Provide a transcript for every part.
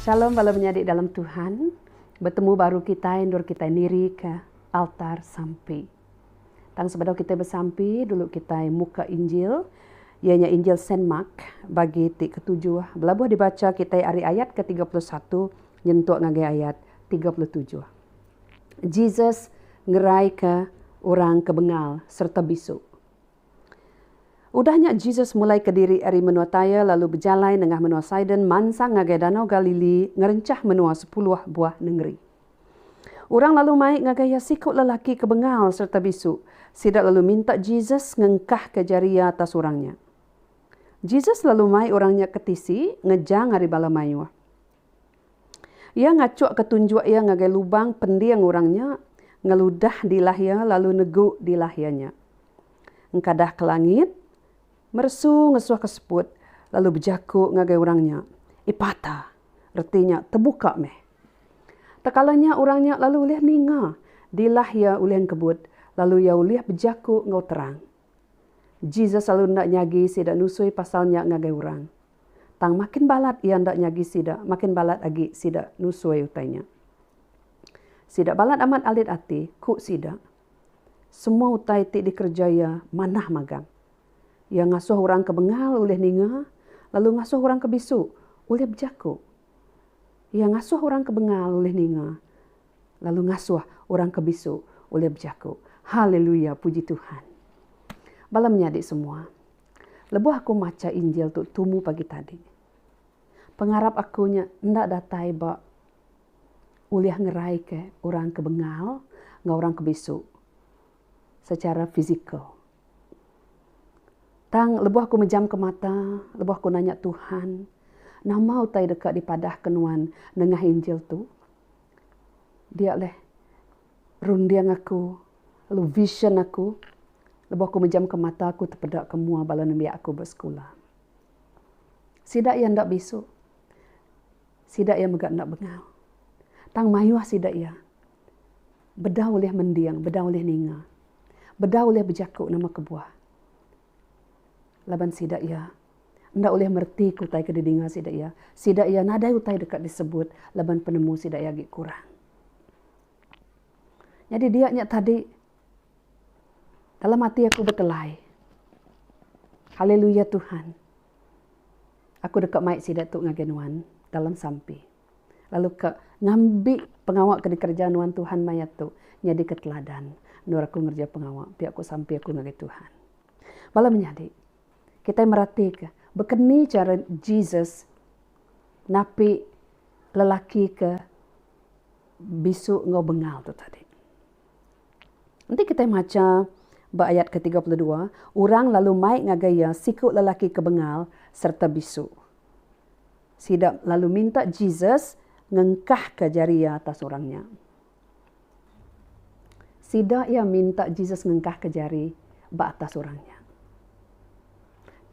Shalom bala menyadi dalam Tuhan, betemu baru kitai endur kitai nirika altar sampi. Tang sebedau kitai besampi dulu kitai muka Injil iya nya Injil Saint Mark bagi ti ketujuh belabuh dibacha kitai ari ayat ke tiga puluh satu nyentuk ngagai ayat tiga puluh tujuh. Jesus ngeraika orang ke bengal sereta bisu. Udah nya Jesus mulaika diri ari menua Tyre lalu bejalai nengah menua Sidon mansang ngagai Danau Galili ngerenchah menua sepuluh buah nengeri. Orang lalu mai ngagai iya siku lelaki ke bengal sereta bisu. Sida lalu minta Jesus ngengkahka jari iya atas orang nya. Jesus lalu mai orang nya ke tisi ngejang ari bala mayuh. Iya ngachukka tunjuk iya ngagai lubang pending orang nya, ngeludah dilah iya lalu negu dilah iya nya. Engkadah ke langit, meresu ngesuh ke seput lalu bejaku ngagai orang nya, Epata, reti nya Tebuka meh. Tekala nya orang nya lalu ulih ninga, dilah iya ulih engkebut lalu iya ulih bejaku enggau terang. Jesus lalu enda nyagi sida nusui pasal nya ngagai orang. Tang makin balat iya enda nyagi sida, makin balat agi sida nusui utai nya. Sida balat amat alit ati, ku sida. Semua utai ti dikereja iya manah magang. Iya ngasuh orang ke bengal ulih ninga, lalu ngasuh orang ke bisu ulih bejaku. Iya ngasuh orang ke bengal ulih ninga, lalu ngasuh orang ke bisu ulih bejaku. Haleluya! Puji Tuhan. Bala menyadi semua. Lebuh aku macha Injil tu tumu pagi tadi, pengarap aku nya enda datai ba ulih ngeraika orang ke bengal enggau orang ke bisu secara fizikal. Tang lebuh aku mejamka mata, lebuh aku nanya Tuhan, nama utai deka dipadahka nuan nengah Injil tu? Dia leh Runding aku, lalu vision aku lebuh aku mejamka mata aku tepeda ke mua bala nembiak aku ba sekula. Sida iya enda bisu. Sida iya mega enda bengal. Tang mayuh sida iya bedau ulih mending, bedau ulih ninga, bedau ulih bejaku nama kebuah laban sida iya. enda ulih meretika utai ke didinga sida iya. Sida iya nadai utai deka disebut laban penemu sida iya agi kurang. Nyadi dia nya tadi dalam ati aku betelai. Haleluya Tuhan. Aku deka mai sida tu ngagai nuan dalam sampi. Lalu ka ngambi pengawa ke dikereja nuan Tuhan maya tu nyadika teladan endur aku ngereja pengawa pia ku sampi aku ngagai Tuhan. Bala menyadi, Kitai meratika baka ni chara Jesus napi lelaki ke bisu enggau bengal tu tadi. Enti kitai macha ba ayat ke tiga puluh dua, orang lalu mai ngagai iya siku lelaki ke bengal sereta bisu. Sida lalu minta Jesus ngengkahka jari iya atas orang nya. Sida iya minta Jesus ngengkahka jari ba atas orang nya.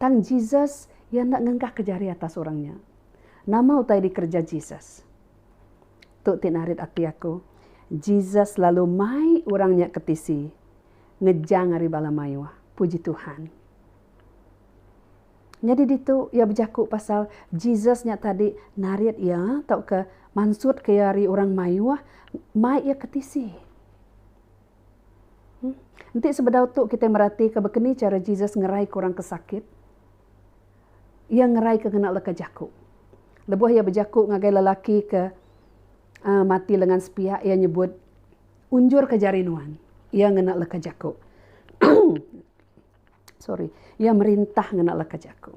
Tang Jesus iya enda ngengkahka jari atas orang nya. Nama utai dikereja Jesus? Tu ti narit ati aku. Jesus lalu mai orang nya ke tisi ngejang ari bala mayuh. Puji Tuhan. Nyadi ditu iya bejaku pasal Jesus nya tadi narit iya tauka mansutka iya ari orang mayuh mai iya ke tisi. Em Enti sebedau tu kitai meratika baka ni chara Jesus ngeraika orang ke sakit. Iya ngeraika ngena leka jaku. Lebuh iya bejaku ngagai lelaki ke uhh mati lengan sepiak iya nyebut, Unjurka jari nuan. Iya ngena leka jaku. sorry, iya merintah ngena leka jaku.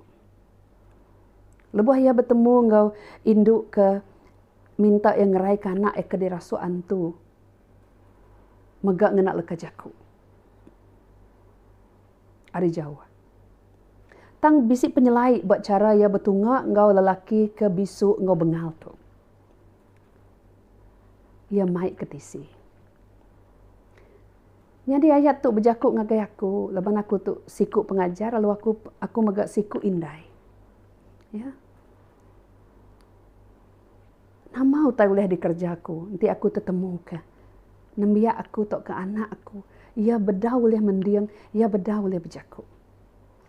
Lebuh iya betemu enggau indu ke minta iya ngeraika anak iya ke dirasuk antu mega ngena leka jaku ari jauh. Tang bisi penyelai ba chara iya betunga enggau lelaki ke bisu enggau bengal tu. Iya mai ke tisi. Nyadi ayat tu bejaku ngagai aku laban aku tu siku pengajar lalu aku aku mega siku indai. Ya. Nama utai ulih dikereja aku enti aku tetemuka nembiak aku tauka anak aku iya beda ulih mending, iya beda ulih bejaku.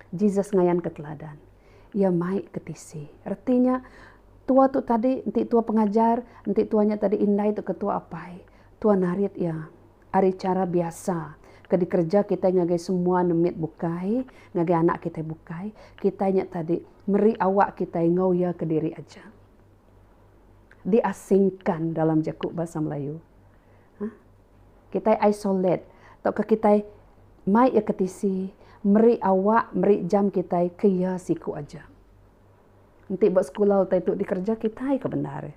Jesus ngayanka teladan. Iya mai ke tisi. Reti nya tua tu tadi enti tua pengajar, enti tua nya tadi indai tauka tua apai, tua narit iya. ari chara biasa ke dikereja kitai ngagai semua nemit bukai, ngagai anak kitai bukai, kitai nya tadi meri awak kitai enggau iya kediri aja. Diasingkan dalam jaku Bahasa Melayu. Hah. Kitai isolate tauka kitai mai iya ke tisi, meri awak, meri jam kitai ke iya siku aja. Enti ba sekula utai tu dikerja kitai ke bendar.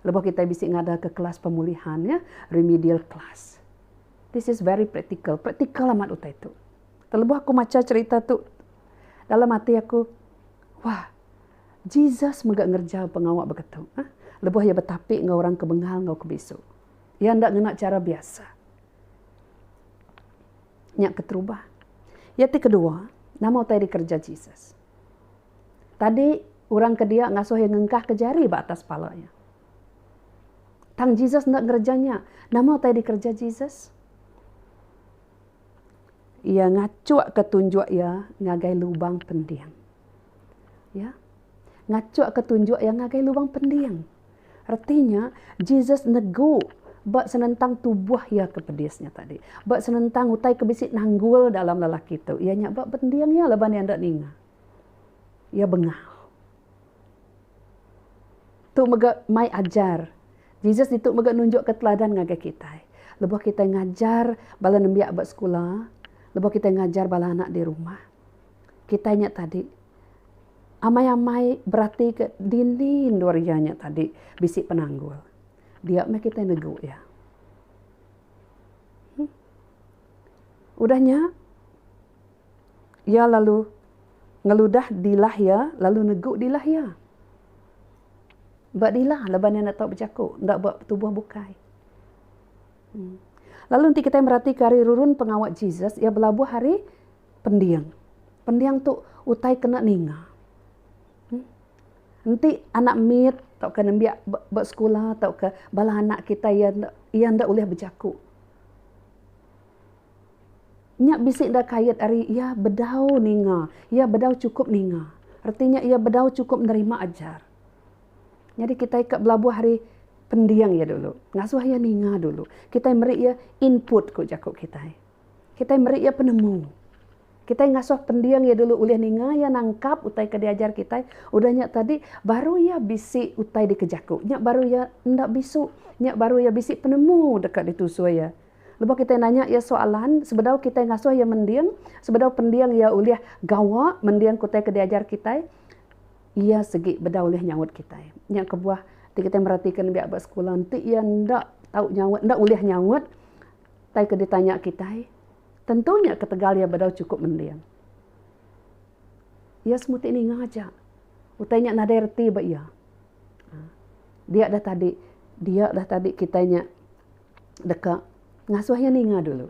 Lebuh kitai bisi ngadaka kelas pemulihan iya, remedial class. This is very practical, practical amat utai tu. Lebuh aku macha cherita tu, dalam ati aku, wah, Jesus mega ngereja pengawa baka tu. Lebuh iya betapi enggau orang ke bengal enggau ke bisu. Iya enda ngena chara biasa. Nya keterubah. Iya ti kedua, nama utai dikerja Jesus? Tadi orang ke dia ngasuh iya ngengkahka jari ba atas pala iya. Tang Jesus enda ngereja nya. Nama utai dikereja Jesus? Iya ngachukka tunjuk iya ngagai lubang pending. Ya. Ngachukka tunjuk iya ngagai lubang pending. Reti nya, Jesus negu ba senentang tubuh iya ke pedis nya tadi, ba senentang utai ke bisi nanggul dalam lelaki tu, iya nya ba bending iya laban iya enda ninga. Iya bengau. Tu mega mai ajar. Jesus ditu mega nunjukka teladan ngagai kitai. Lebuh kitai ngajar bala nembiak ba sekula, lebuh kitai ngajar bala anak di rumah. kitai nya tadi amai-amai beratika dini endur iya nya tadi bisi penanggul. Dia meh kitai negu iya. Emm udah nya iya lalu ngeludah dilah iya lalu negu dilah iya. Ba dilah laban iya enda tau bejaku, enda ba tubuh bukai. Emm lalu enti kitai meratika ari rurun pengawa Jesus, iya belabuh ari Pending. Pending tu utai kena ninga. Em enti anak mit tauka nembiak ba ba sekula tauka bala anak kitai iya enda iya enda ulih bejaku. Nya bisi enda kait ari iya bedau ninga, iya bedau chukup ninga. Reti nya iya bedau chukup nerima ajar. Nyadi kitai ka belabuh ari pending iya dulu. Ngasuh iya ninga dulu. Kitai meri iya input ku jaku kitai. Kitai meri iya penemu. Kitai ngasuh pending iya dulu ulih ninga iya nangkap utai ke diajar kitai. Udah nya tadi, baru iya bisi utai dikejaku. Nya baru iya enda bisu. Nya baru iya bisi penemu deka ditusui iya. Lebuh kitai nanya iya soalan, sebedau kitai ngasuh iya mending, sebedau pending iya ulih gawa mending ke utai ke diajar kitai, iya sigi beda ulih nyaut kitai. Nya kebuah ti kitai meratika nembiak ba sekula enti iya enda tau nyaut, enda ulih nyaut. Utai ke ditanya kitai, tentu nya ketegal iya bedau chukup mending. Iya semuti ninga aja. Utai nya nadai reti ba iya. Dia dah tadi, dia dah tadi kitai nya deka ngasuh iya ninga dulu.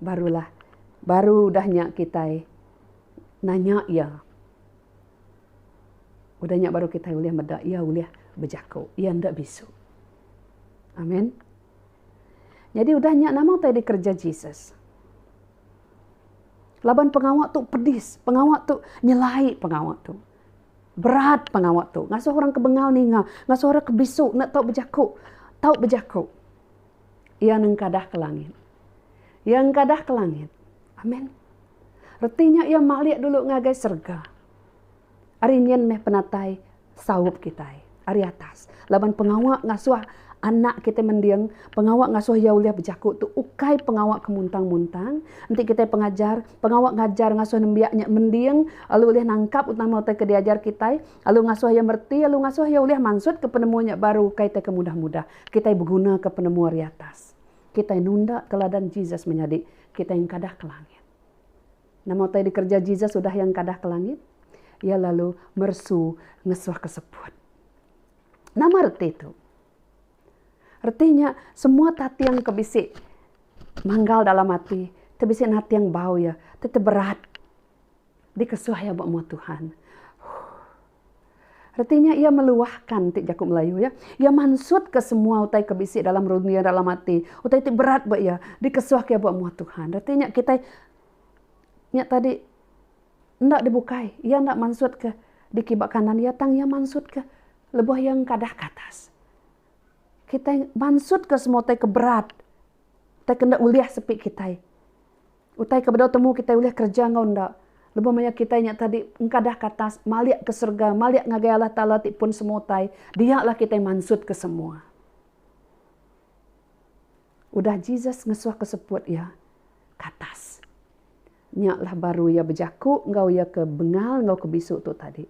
Barulah, baru udah nya kitai nanya iya. Udah nya baru kitai ulih meda iya ulih bejaku, iya enda bisu. Amen. Nyadi udah nya nama utai dikereja Jesus? Laban pengawa tu pedis, pengawa tu nyelai pengawa tu. Berat pengawa tu ngasuh orang ke bengal ninga, ngasuh orang ke bisu enda tau bejaku, tau bejaku. Iya nengkadah ke langit. Iya engkadah ke langit. Amen. Reti nya iya malik dulu ngagai serega. ari nyin meh penatai saup kitai ari atas laban pengawa ngasuh anak kitai mending pengawa ngasuh iya ulih bejaku tu ukai pengawa ke muntang-muntang enti kitai pengajar pengawa ngajar ngasuh nembiak nya mending lalu ulih nangkap utama utai ke diajar kitai lalu ngasuh iya mereti lalu ngasuh iya ulih mansut ke penemu nya baru ukai tai ke mudah-mudah kitai beguna ke penemu ari atas kitai nunda teladan Jesus menyadi kitai engkadah ke langit. Nama utai dikereja Jesus udah iya engkadah ke langit? Iya lalu meresu ngesuh ke seput. Nama reti tu? Reti nya, semua tating ke bisi manggal dalam ati ti bisi nating bau iya ti teberat dikesuh iya ba mua Tuhan. Huh. Reti nya iya meluahkan ti jaku Melayu iya. Iya mansutka semua utai ke bisi dalam runding dalam ati, utai ti berat ba iya, dikesuhka iya ba muah Tuhan. Reti nya kitai nya tadi enda dibukai, iya enda mansutka dikit ba kanan iya tang iya mansutka lebuh iya engkadah ka atas. Kitai mansutka semua utai ke berat, utai ke enda ulih sepi kitai. Utai ke bedau temu kitai ulih kereja enggau enda. Lebuh maya kitai nya tadi engkadah ke atas, malik ke serega, malik ngagai Allah Taala ti pun semua utai, dia lah kitai mansut ke semua. Udah Jesus ngesuh ke seput iya ke atas. Nya lah baru iya bejaku enggau iya ke bengal enggau ke bisu tu tadi.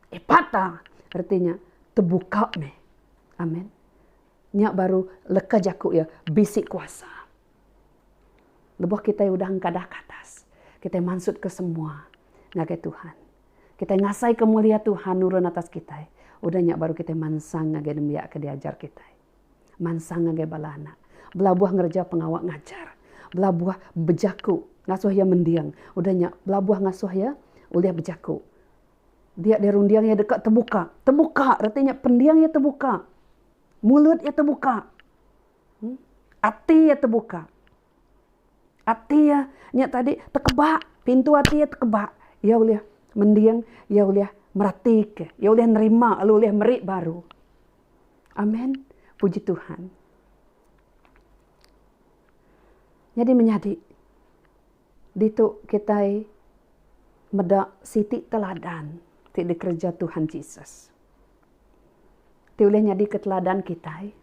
Epata! Reti nya, tebuka meh. Amen. Nya baru leka jaku iya, bisi kuasa. Lebuh kitai udah engkadah ke atas, kitai mansutka semua ngagai Tuhan. Kitai ngasaika mulia Tuhan nurun atas kitai. Udah nya baru kitai mansang ngagai nembiak ke diajar kitai. Mansang ngagai bala anak. Belabuh ngereja pengawa ngajar. Belabuh bejaku ngasuh iya mending. Udah nya belabuh ngasuh iya ulih bejaku. Dia deh runding iya deka tebuka. Tebuka reti nya pending iya tebuka. Mulut iya tebuka. Ati iya tebuka. Ati iya nya tadi tekeba, pintu ati iya tekeba. Iya ulih mending, iya ulih meratika, iya ulih nerima lalu ulih meri baru. Amen. Puji Tuhan. Nyadi menyadi, ditu kitai meda siti teladan ti dikereja Tuhan Jesus, ti ulih nyadika teladan kitai.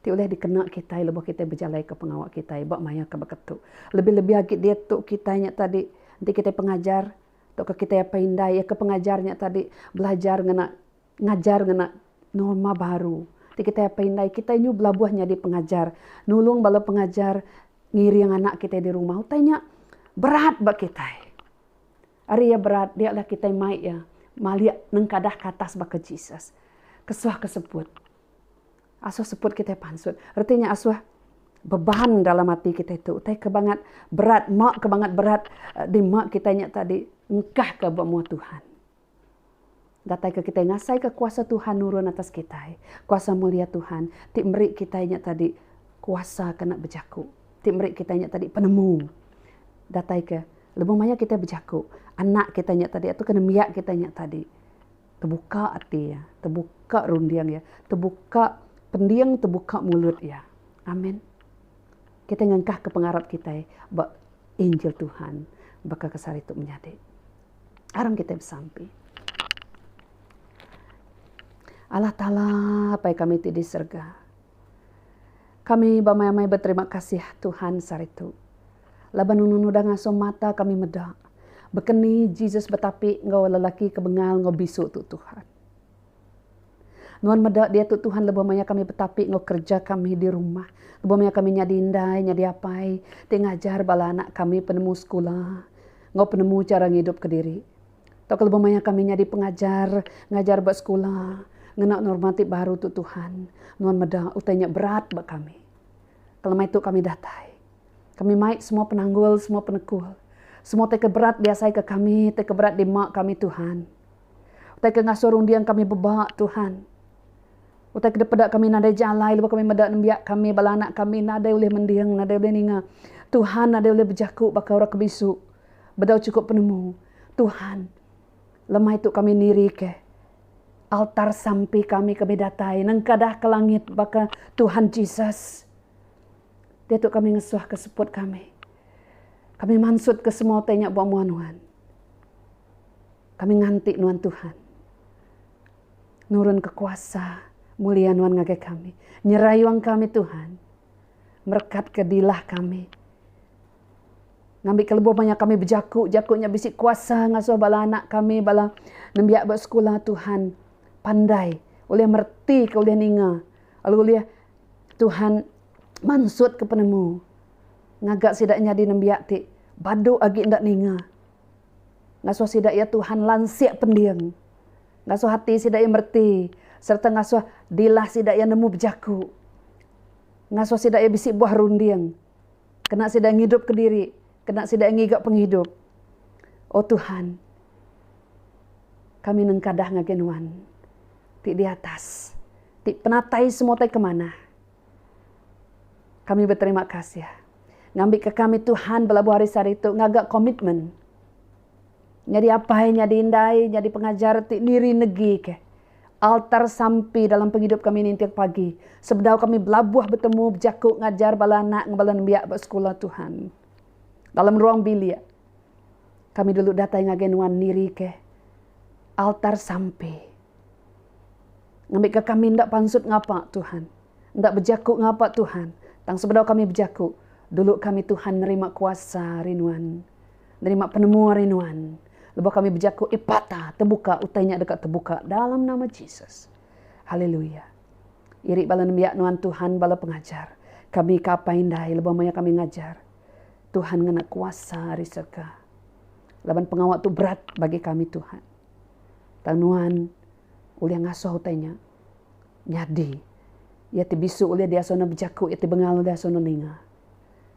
Ti ulih dikena kitai lebuh kitai bejalaika pengawa kitai ba maya ke baka tu. Lebih-lebih agi diatu kitai nya tadi enti kitai pengajar tauka kitai apai indai iya ke pengajar nya tadi belajar ngena ngajar ngena norma baru. Ti kitai apai indai kitai nyu belabuh nyadi pengajar nulung bala pengajar ngiring anak kitai di rumah. Utai nya berat ba kitai. Ari iya berat dia lah kitai mai iya malik nengkadah ke atas baka Jesus. Kesuh kesebut. Asuh seput kitai pansut. Reti nya asuh beban dalam ati kitai tu utai ke bangat berat ma ke bangat berat di ma kitai nya tadi engkah ka ba mua Tuhan. Datai ke kitai ngasai ka kuasa Tuhan nurun atas kitai. Kuasa mulia Tuhan ti meri kitai nya tadi kuasa ke enda bejaku. Ti meri kitai nya tadi penemu. Datai ke lebuh maya kitai bejaku anak kitai nya tadi atu ke nembiak kitai nya tadi. Tebuka ati iya. Tebuka runding iya. Tebuka pending, tebuka mulut iya. Amen. Kitai ngengkahka pengarap kitai ba injil Tuhan baka ke sehari tu menyadi. Aram kitai besampi. Allah Taala, Apai kami ti di serega. Kami bamai-amai beterima kasih Tuhan saritu laban nunu nudah ngasuh mata kami meda baka ni Jesus betapi enggau lelaki ke bengal enggau bisu tu Tuhan. Nuan meda diatu Tuhan lebuh maya kami betapi enggau kereja kami di rumah, lebuh maya kami nyadi indai, nyadi apai ti ngajar bala anak kami penemu sekula enggau penemu chara ngidup kediri. Tauka lebuh maya kami nyadi pengajar, ngajar ba sekula, ngena norma ti baru tu Tuhan, nuan meda utai nya berat ba kami. Kelemai tu kami datai, kami mai semua penanggul, semua penekul, semua utai ke berat diasaika kami, utai ke berat dima kami Tuhan. Utai ke ngasuh runding kami beba Tuhan. Utai ke dipeda kami nadai jalai lebuh kami meda nembiak kami, bala anak kami nadai ulih mending, nadai ulih ninga. Tuhan nadai ulih bejaku baka orang ke bisu. bedau chukup penemu Tuhan. Lemai tu kami nirika altar sampi kami ke bedatai nengkadah ke langit baka Tuhan Jesus. Diatu kami ngesuhka seput kami. Kami mansutka semua utai nya ba mua nuan. Kami nganti nuan Tuhan. Nurunka kuasa mulia nuan ngagai kami. Nyerayung kami Tuhan. Merekatka dilah kami. Ngambika lebuh maya kami bejaku, jaku nya bisi kuasa ngasuh bala anak kami, bala nembiak ba sekula Tuhan pandai ulih meretika, ulih ninga lalu ulih Tuhan mansutka penemu ngaga sida nyadi nembiak ti badu agi enda ninga. Ngasuh sida iya Tuhan lansik pending. Ngasuh ati sida iya mereti sereta ngasuh dilah sida iya nemu bejaku. Ngasuh sida iya bisi buah runding. Kena sida ngidupka diri. Kena sida ngiga pengidup. O Tuhan, kami nengkadah ngagai Nuan ti di atas, ti penatai semua utai ke manah. Kami beterima kasih ngambika kami Tuhan belabuh hari sehari tu ngaga komitmen Nyadi apai, nyadi indai, nyadi pengajar ti niri negi ke. Altar sampi dalam pengidup kami ninting pagi, sebedau kami belabuh betemu bejaku ngajar bala anak enggau bala nembiak ba sekula Tuhan. Dalam ruang bilik, kami dulu datai ngagai nuan niri ke altar sampi. Ngambika kami enda pansut ngapa Tuhan, enda bejaku ngapa Tuhan, tang sebedau kami bejaku, dulu kami Tuhan nerima kuasa ari nuan. nerima penemu ari Nuan. Lebuh kami bejaku, Epata, tebuka, utai nya deka tebuka dalam nama Jesus. Haleluya. Iri bala nembiak Nuan Tuhan bala pengajar. Kami ke apai indai lebuh maya kami ngajar. Tuhan ngena kuasa ari serega. Laban pengawa tu berat bagi kami Tuhan. Tang Nuan ulih ngasuh utai nya nyadi. Iya ti bisu ulih diasuh ne bejaku, iya ti bengal ulih asuh ne ninga.